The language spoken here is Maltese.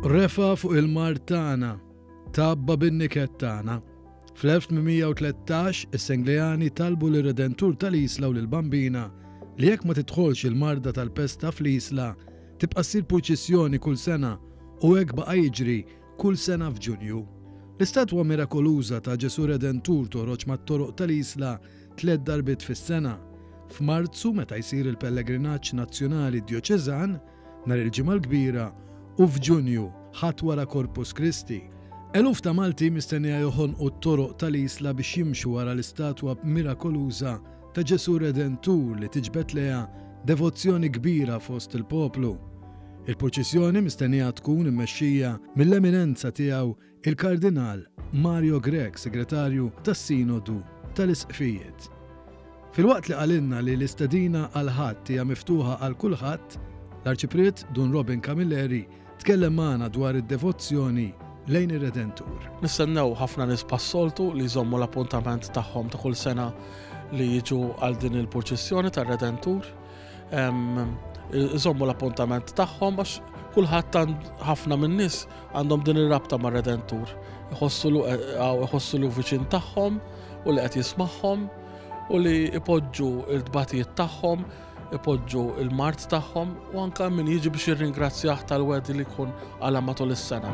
Refa fuq il-mart tagħna, tabba bin-niket tagħna. Fl-1813 is-Senglejani talbu lir redentur tal-Isla u lill-Bambina li jekk ma tidħolx il-marda tal-pesta fl-Isla tibqa' ssir purċissjoni kull sena u hekk baqa' jiġri kull sena f'Ġunju. L-istatwa mirakoluża ta' Ġesù Redentur toħroġ mat-toroq tal-Isla tliet darbiet fis-sena, f'Marzu meta jsir il-pellegrinaġġ nazzjonali djoċeżan, nhar il-Ġimgħa l-Kbira, u f'Ġunju, Ħadd wara Corpus Christi. Eluf ta' Malti mistennija joħonqu t-toroq tal-Isla biex jimxu wara l-istatwa mirakoluża ta' Ġesù Redentur li tiġbed lejha devozzjoni kbira fost il-poplu. Il-purċissjoni mistennija tkun immexxija mill-Eminenza Tiegħu Il-Kardinal Mario Grech, Segretarju tas-Sinodu tal-Isqfijiet. Filwaqt li qalilna li l-istedina għall-Ħadd hija miftuħa għal kulħadd, l-Arċipriet Dun Robin Camilleri tkellem magħna dwar id-devozzjoni lejn ir-Redentur. Nistennew ħafna nies bħas-soltu li jżommu l-appuntament tagħhom ta' kull sena li jiġu għal din il-purċissjoni tar-Redentur. iżommu l-appuntament tagħhom għax kulħadd ħafna min-nies għandhom din ir-rabta ma' Redentur. Iħossu eh, lu viċin tagħhom u li qed jismagħhom u li ipoġġu l-tbatijiet tagħhom, ipoġġu l-mart tagħhom u anke min jiġi biex jirringrazzjah tal-wedi li jkun għala matul is-sena.